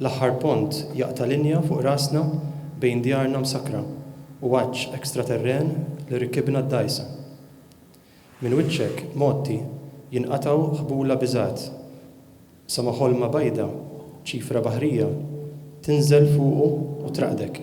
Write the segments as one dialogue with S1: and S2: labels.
S1: L-aħħar pont jaqta' linja fuq rasna bejn djarna msakkra u għatx extraterren li rkibna d-dgħajsa. Minn wiċċek, Motti, jinqatgħu ħbula biżgħat, sa ma ħolma bajda, ċifra baħrija, tinżel fuqu u traqdek.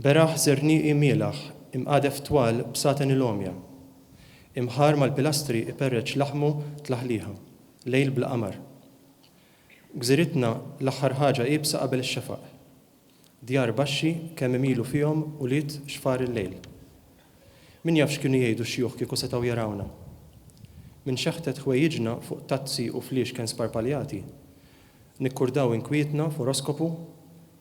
S1: Beraħ żernieqi mielaħ, imqadef twal b'saten il-għomja. Imħarr mal-pilastri iperreċ laħmu tlaħliħa, lejl bla qamar. Gżiritna l-aħħar ħaġa iebsa qabel ix-xefaq. Djar baxxi kemm imilu fihom ulied xfar il-lejl. Min jaf x'kienu jgħidu x-xjuħ kieku setgħu jarawna. Minn xeħtet ħwejjiġna fuq tazzi u fliexken sparpaljati, nikkurdaw inkwietna f'oroskopu,